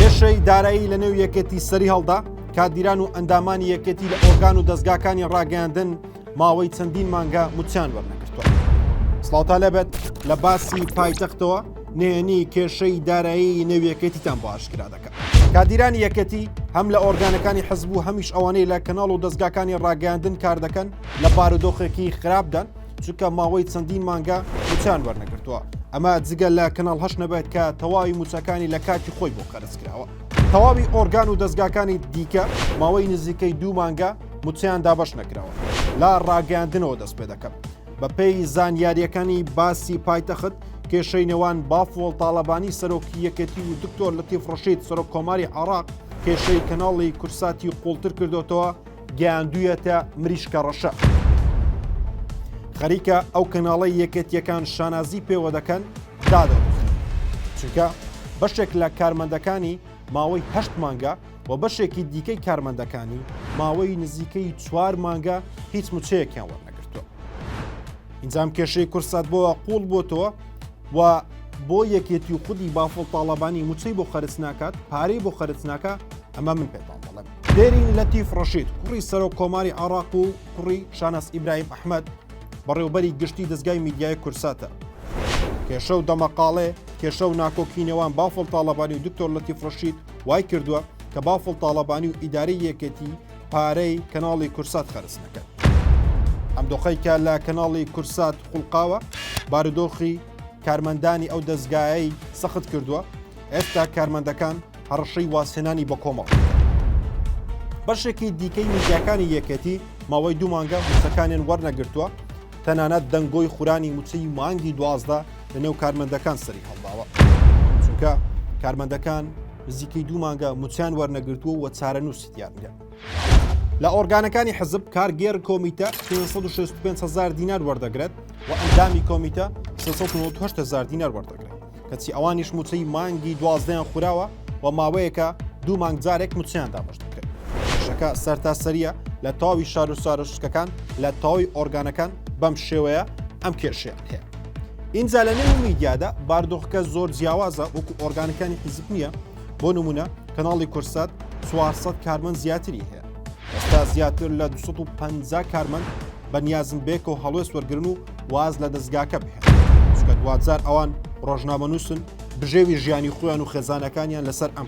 کێشەی دارایی لە نێو یەکێتی سەری هەڵدا کادیران و ئەندامانی یەکێتی لە ئۆرگان و دەستگاکانی ڕاگەیاندن ماوەی چەندین مانگە موچیان وەرنەکردوە سڵاوتا لەبێت لە باسی پایتەختەوە نێنی کێشەی دارایی نێویەکێتیتان بۆ ئاشکرا دەکات کادیرانی یەکەتی هەم لە ئۆرگانەکانی حەزبوو هەمیش ئەوانەی لە کەناڵ و دەستگاکانی ڕاگەاندن کار دەکەن لە بارودۆخێکی خراپدان چونکە ماوەی چەندین مانگە موچان وەرنەگرتووە ئەمە جگە لە کەناڵ هەش نەبێت کە تەواوی موچەکانی لە کاتی خۆی بۆ قەرز کراوە تەواوی ئۆرگان و دەستگاکانی دیکە ماوەی نزیکەی دوو مانگە موچیان دابش نەکراوە لا ڕاگەاندنەوە دەست پێ دەکەم بەپێی زانیاریەکانی باسی پایتەخت کێشەی نێوان بافۆڵ تاالبانی سەرۆکی یەکێتی و دکتۆر لەتیف ڕشید سەرۆک کۆماری عراق کێشەی کەناڵی کورساتی قوڵتر کردوتەوە گەیاندویەتە مریشکە ڕەشە. خەریکە ئەو کەناڵی یەکێتیەکان شانازی پێوە دەکەن دادەن چونکە بەشێک لە کارمەندەکانی ماوەی هەشت مانگە و بەشێکی دیکەی کارمەندەکانی ماوەی نزیکەی چوار مانگە هیچ مچەیەکیان وەرنەگرتووە ئینجام کێشەی کورسات بۆەوە قوڵ بۆتەوە و بۆ یەکێتی و خودی بافڵ تاالبانی موچەی بۆ خەرچ ناکات پارەی بۆ خەرچ ناکە ئەمە من پێتان دەڵێم دێرین لەتیف ڕەشید کوڕی سەرۆک کۆماری عراق و کوڕی شاناس ئیبراهیم ئەحمد بەڕێوبەری گشتی دەستگای میدیای کورساتە کێشە و دەمەقاڵێ کێشە و ناکۆکی نێوان بافڵ تاڵەبانی و دکتۆر لەتیف ڕەشید وای کردووە کە بافڵ تاڵەبانی و ئیداری یەکێتی پارەی کەناڵی کورسات خەرز نەکەن ئەم دۆخەیکە لە کەناڵی کورسات خوڵقاوە بارودۆخی کارمەندانی ئەو دەستگایەی سەخت کردووە ئێستا کارمەندەکان هەڕەشەی وازهێنانی بەکۆمەڵ. بەشێکی دیکەی میدیاکانی یەکێتی ماوەی دوو مانگە موچەکانیان وەرنەگرتووە، تەنانەت دەنگۆی خورانی موچەی مانگی دوازدە لەنێو کارمەندەکان سەری هەڵداوە. چونکە کارمەندەکان نزیکەی دوو مانگە موچەیان وەرنەگرتووە و چارەنووسی دیار نییە. لە ئۆرگانەکانی حزب کارگێر کۆمیتە 565 هزار دینار وەردەگرێت و ئەندامی کۆمیتە 398 هزار دینار وەردەگرێت کەچی ئەوانیش موچەی مانگی دوازدەیان خوراوە و ماوەیەکە دوو مانگ جارێک موچیان دابش دەکرێت شەکە سەرتاسەریە لە تاوی شار و سارشتەکان لە تاوی ئۆرگانەکان بەم شێوەیە ئەم کێشیان هەیە ئینجا لە نێو میدیادا باردۆخەکە زۆر جیاوازە وەکو ئۆرگانەکانی حیزب نییە بۆ نمونە کەناڵی کورسات 400 کارمەند زیاتری هەیە ئێستا زیاتر لە 250 کارمەند بەنیازم بێکە و هەڵوێست وەرگن و واز لە دەستگاکە بهێن چکە دوزار ئەوان ڕۆژنامە نووسن بژێوی ژیانی خۆیان و خێزانەکانیان لەسەر ئەم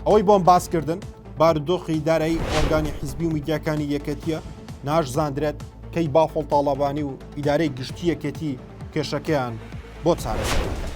ئەوەی بۆم باسکردن باردۆخی دارایی ئۆرگانی حیزبی و میدیاکانی یەکەتیە ناشزانندرێت کەی بافڵ تاڵەبانی و ئیدارەی گشتی یەکەتی کێشەکەیان بۆ چارەسەر دەکەن.